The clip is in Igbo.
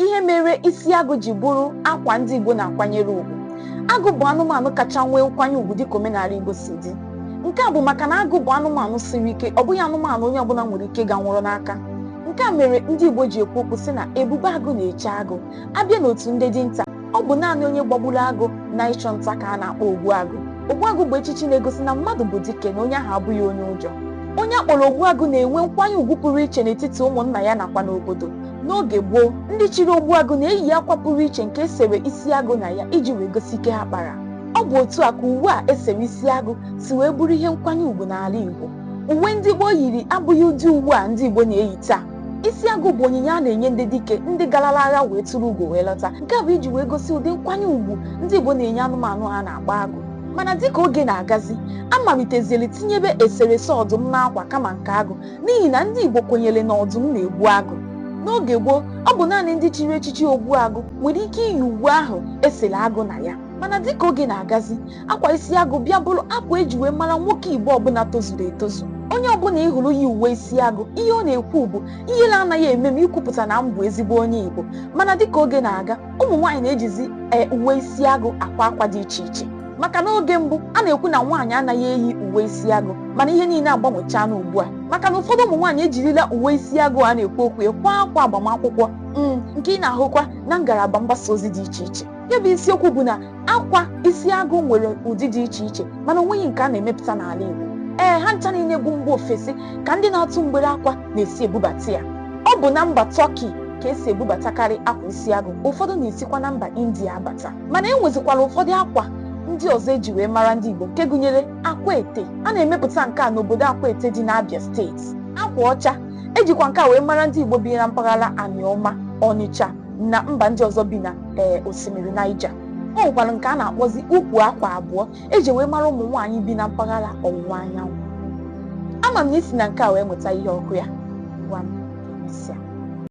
ihe mere isi agụ ji bụrụ akwa ndị Igbo na-akwanyere ugwu agụ bụ anụmanụ kacha nwee nkwanye ugwu dịka omenala Igbo si dị nke a bụ maka na agụ bụ anụmanụ siri ike ọ bụghị anụmanụ onye ọbụla nwere ike ga nwụrụ n'aka nke a mere ndị Igbo ji ekwu okwu sị na ebube agụ na-eche agụ abịa n'otu ndị dinta ọ bụ naanị onye gbagburu agụ na ịchụ nta ka a na-akpọ ogbuagụ ogbuagụ bụ echichi na-egosi na mmadụ bụ dike na onye ahụ abụghị onye ụjọ onye akpọrọ ogbuagụ na-enwe nkwanye ugwu pụrụ iche n'etiti ụmụnna ya nakwa n'obodo N'oge gboo, ndị chiri ogbuagụ na-eyi akwa pụrụ iche nke esere isi agụ na ya iji wee gosi ike ha kpara. Ọ bụ otu a ka uwe a esere isi agụ si wee bụrụ ihe nkwanye ugwu n'ala Igbo. Uwe ndị gboo yiri abụghị ụdị uwe a ndị Igbo na-eyi taa. Isi agụ bụ onyinye a na-enye ndị dike ndị garala agha wee turu ugo wee lọta. Nke a bụ iji wee gosi ụdị nkwanye ugwu ndị Igbo na-enye anụmanụ ha na-akpọ agụ. Mana dịka oge na-agazi, a maliteziere tinyebe eserese ọdụm n'akwa kama nke agụ n'ihi na ndị Igbo kwenyere na ọdụm na-egbu agụ n'oge gboo ọ bụ naanị ndị chiri echichi ogbuagụ nwere ike iyi uwe ahụ esere agụ na ya mana dịka oge na-agazi akwa isi agụ bịa bụrụ akwa eji wee mara nwoke Igbo ọbụla tozuru etozu onye ọbụla ị hụrụ yi uwe isi agụ ihe ọ na-ekwu bụ ihere anaghị eme m ikwupụta na m bụ ezigbo onye Igbo mana dịka oge na-aga ụmụ nwaanyị na-ejizi ee uwe isi agụ akwa akwa dị iche iche maka na oge mbụ a na-ekwu na nwaanyị anaghị eyi uwe isi agụ mana ihe niile agbanwechaana ugbu a maka na ụfọdụ ụmụ nwaanyị ejirila uwe isi agụ a na-ekwu okwu ya kwaa akwa agbamakwụkwọ mm, nke ị na-ahụkwa na ngalaba mgbasa ozi dị iche iche ya bụ isiokwu bụ na akwa isi agụ nwere ụdị dị iche iche mana onweghị nke a na-emepụta n'ala Igbo ee ha ncha niile bụ mba ofesi ka ndị na-atụ mgbere akwa na-esi ebubata ya ọ bụ na mba Turkey ka esi ebubatakarị akwa isi agụ ụfọdụ na-esikwa na mba India abata mana e nwezikwara ụfọdụ akwa ndị ọzọ eji wee mara ndị Igbo nke gụnyere Akwete a na-emepụta nke a n'obodo Akwete dị n'Abia steeti akwa ọcha ejikwa nke a wee mara ndị Igbo bi na mpaghara Anioma Ọnịcha na mba ndị ọzọ bi na ee osimiri Niger o nwekwara nke a na-akpọzi ukwu akwa abụọ eji wee mara ụmụ nwaanyị bi na mpaghara ọwụwa anyanwụ ama m na i si na nke a wee mụta ihe ọ kwa ya ngwanụ emesịa